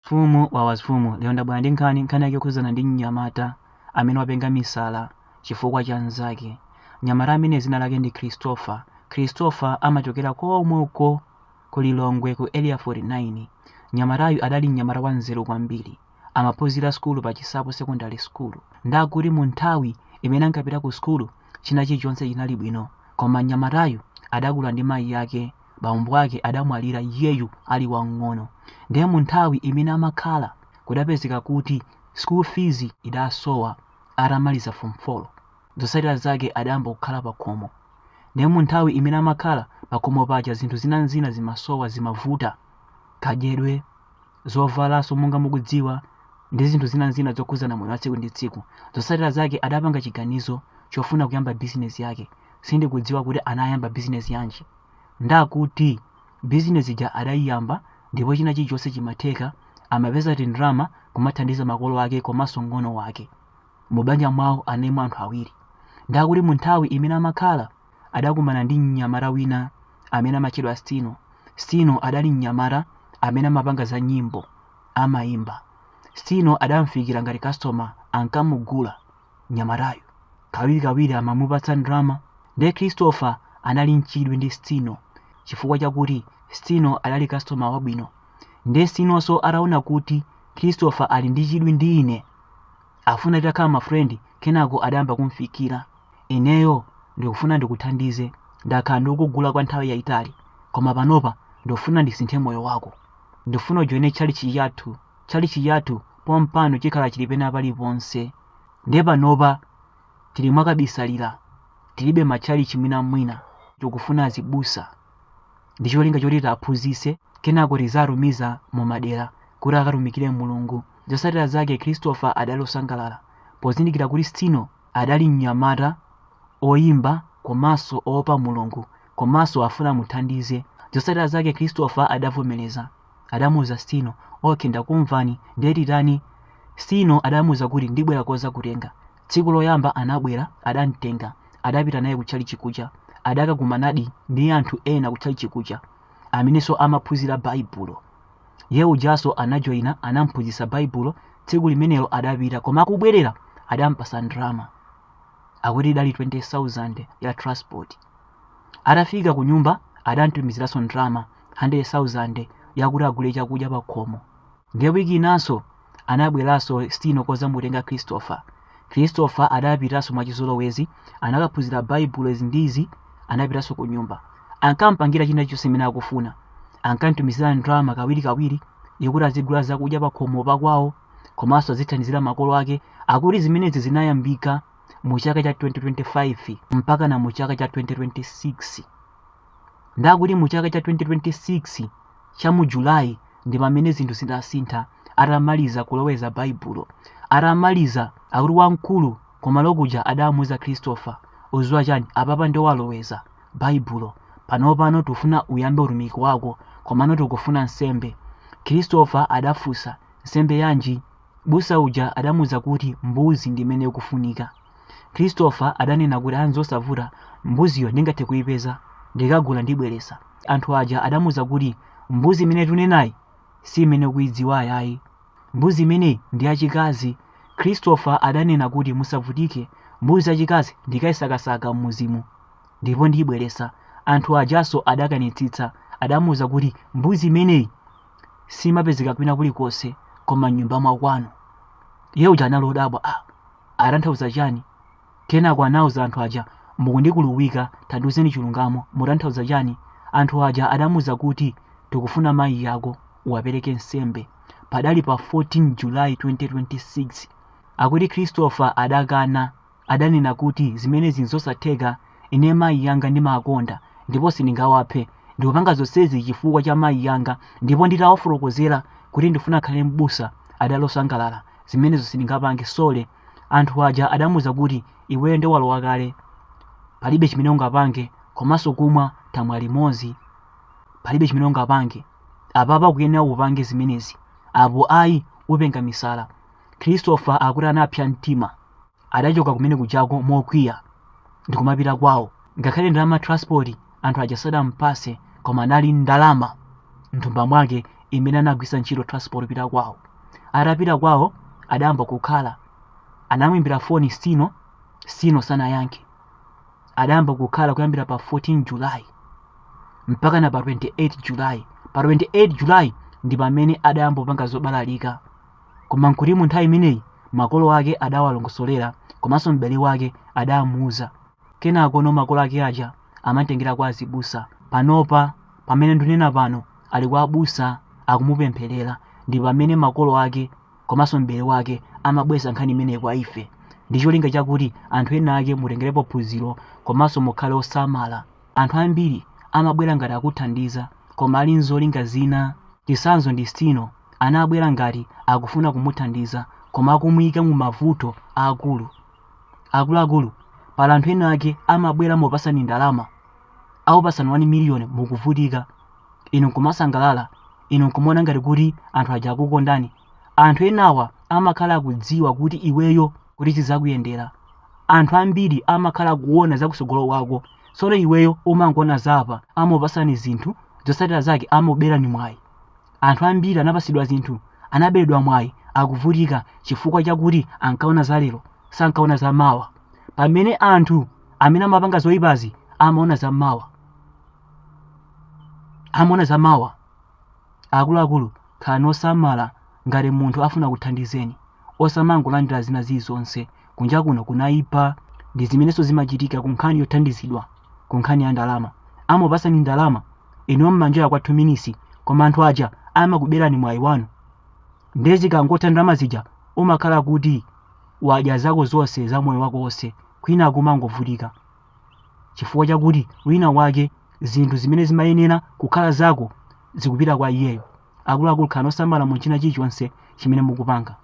Mfumu wawa zimfumu lero ndabwera ndi nkhani nkhani yake yokhudzana ndi mnyamata amene wapenga misala chifukwa cha mzake mnyamata amene dzina lake ndi Christopher Christopher amachokera komweko ku Lilongwe ku area 49 mnyamatayu adali mnyamata wa nzeru kwambiri amaphunzira sukulu pa Chisapo secondary school ndakuti mu nthawi imene ankapita ku sukulu china chilichonse chinali bwino koma mnyamatayu adakula ndi mayi ake bambo ake adamwalira iyeyu ali wamng'ono ndiye mu nthawi imene amakhala kudapezeka kuti school fees idasowa atamaliza form 4 zotsatira zake adayamba kukhala pakhomo ndiye mu nthawi imene amakhala pakhomo paja zinthu zinanzina zimasowa zimavuta kadyedwe zovalaso monga mukudziwa ndi zinthu zina zina zokhuzana moyo wa tsiku ndi tsiku zosatira zake adapanga chiganizo chofuna kuyamba bizinesi yake sindikudziwa kuti anayamba bizinesi yanji ndakuti bizinesi ija adayiyamba ndipo china chilichonse chimatheka amapeza tindrama kumathandiza makolo ake komanso mng'ono wake mubanja mwawo analimo anthu awiri ndakuti mu nthawi imene amakhala adakumana ndi mnyamata wina amene amatchedwa Stino. Stino adali mnyamata amene amapanga za nyimbo, amaimba. Stino adamfikira ngati customer, ankamugula mnyamatayu. Kawirikawiri amamupatsa ndalama. Ndiye Christopher anali nchidwi ndi Stino chifukwa chakuti Stino adali customer wabwino. Ndiye Stinonso ataona kuti Christopher ali ndi chidwi ndi ine, afuna titakhala mafrendi, kenako adayamba kumfikira. Ineyo ndikufuna ndikuthandize. Ndakhala ndikukugula kwa nthawi yaitali, koma panopa ndikufuna ndisinthe moyo wako. Ndikufuna ujoine tchalitchi chathu. Tchalitchi chathu pompano chikhala chili pena paliponse. Ndiye panopa tili mwakabisalira, tilibe matchalitchi mwinamwina. Tikufuna azibusa ndi cholinga choti tiaphunzitse, kenako tiziatumiza mu madera kuti akatumikire Mulungu. Zotsatira zake Christopher adali osangalala pozindikira kuti Stino Adali mnyamata oyimba komanso oopa Mulungu komanso afuna amuthandize. Zotsatira zake Christopher adavomereza. Adamuuza Stino, Ok ndakumvani, ndiye titani? Stino adamuuza kuti ndibwera kudzakutenga. Tsiku loyamba anabwera adamtenga adapita naye kutchalitchi kuja. Adakakumanadi ndi anthu ena kutchalitchi kuja amenenso amaphunzira Baibulo. iye ujanso anajoyina anamphunzitsa baibulo tsiku limenelo adapita koma akubwerera adampasa ndrama akuti idali 20000 ya transport atafika ku nyumba adamtumiziranso ndrama 100000 yakuti agule chakudya pakhomo ndiye wiki inanso Anabweranso Stino kodzamutenga Christopher. Christopher adapitanso mwachizolowezi, anakaphunzira Baibulo izi ndi izi, anapitanso kunyumba. Ankampangira china chonse chimene akufuna. Ankamtumizira ndalama kawirikawiri yokuti azigula zakudya pakhomo pakwawo komanso azithandizira makolo ake. Akuti zimenezi zinayambika mu chaka cha 2025 mpaka na mu chaka cha 2026. ndakuti mu chaka cha 2026 cha mu julayi ndi pamene zinthu zidasintha atamaliza kuloweza baibulo atamaliza akuti wamkulu kumalo kuja adamuuza christopher uziwa chani apapa ndiye waloweza baibulo panopano tufuna uyambe utumiki wako komano tikufuna nsembe christopher adafunsa nsembe yanji Mbusa uja adamuuza kuti mbuzi ndi imene ikufunika. Christopher adanena kuti a nzosavuta, mbuziyo ndingathe kuipeza, ndikagula ndibweretsa. Anthu aja adamuuza kuti mbuzi imene tunenayi si imene ukuidziwayi ayi. Mbuzi imeneyi ndi yachikazi. Christopher adanena kuti musavutike, mbuzi yachikazi ndikaisakasaka m'mudzimu ndipo ndiibweretsa. Anthu ajanso adakanitsitsa, adamuuza kuti mbuzi imeneyi siimapezeka kwina kulikonse koma m'nyumba mwakwanu. Iye uja anali odabwa, ah, atanthauza chani? Kenako anawauza anthu aja, mukundikuluwika, tandiuzeni chilungamo, mutanthauza chani? Anthu aja adamuuza kuti, tikufuna mayi yako uwapereke nsembe. Padali pa 14 July 2026. Akuti Christopher adakana. adanena kuti zimenezi n'zosatheka, Ine mayi anga ndimawakonda ndipo sindingawaphe. Ndikupanga zonsezi chifukwa cha mayi anga ndipo nditawafotokozera kuti ndifuna kukhala m'busa, adali osangalala. Zimenezo sindingapange, sorry. Anthu aja adamuuza kuti, Iweyo nde walowa kale, palibe chimene ungapange komanso kumwa tamwa limodzi, palibe chimene ungapange. Apapa ukuyenera upange zimenezi, apo ayi upenga misala. Christopher akuti anapsa mtima. Adachoka kumene kujako mokwiya ndikumapita kwawo. Ngakhale ndalama ya transport anthu aja sadampase koma anali ndalama mthumba mwake imene anagwisa ntchito transport kupita kwawo. Atapita kwawo adayamba kukhala. Anamuimbira foni Stino, Stino sanayankhe. Adayamba kukhala kuyambira pa 14 July mpaka na pa 28 July. Pa 28 July ndi pamene adayamba kupanga zobalalika. Koma n'kuti mu nthawi imeneyi makolo ake adawalongosolera komanso m'bale wake adamuuza. Kenakono makolo ake aja amamtengera kwa azibusa. Panopa, pamene ndunena pano, ali kwa abusa akumupempherera ndi pamene makolo ake komanso m'bale wake amabwesa nkhani imeneyi kwa ife ndi cholinga chakuti anthu ena ake mutengerepo phunziro komanso mukhale osamala. Anthu ambiri amabwera ngati akuthandiza koma ali nzolinga zina. Chitsanzo ndi Stino, anabwera ngati akufuna kumuthandiza koma akumuika mu mavuto aakulu. Akuluakulu, pali anthu ena ake amabwera mopatsani ndalama, akupatsani 1 million mukuvutika, inu nkumasangalala, inu nkumaona ngati kuti anthu aja akukondani. Anthu enawa amakhala akudziwa kuti iweyo kuti zizakuyendera anthu ambiri amakhala kuona za kutsogolo kwako tsono iweyo umangoona zapa amakupatsani zinthu zotsatira zake amakuberani mwayi anthu ambiri anapatsidwa zinthu anaberedwa mwayi akuvutika chifukwa chakuti ankaona za lero sankaona za mawa pamene anthu amene amapanga zoyipazi amaona za mawa amaona za mawa Akuluakulu, khalani osamala ngati munthu afuna kuthandizani. Osamangolandira zina zilizonse. Kunja kuno kunaipa. Ndi zimenenso zimachitika ku nkhani yothandizidwa, ku nkhani ya ndalama. Amakupatsani ndalama, inuyo mumanjoya kwa 2 minutes, koma anthu aja amakuberani mwayi wanu. Ndiye zikangotha ndalama zija, umakhala kuti wadya zako zonse za moyo wako wonse, kwinaku umangovutika. chifukwa chakuti wina wake zinthu zimene zimayenera kukhala zako zikupita kwa iyeyo akuluakulu khalani osamala mu china chilichonse chimene mukupanga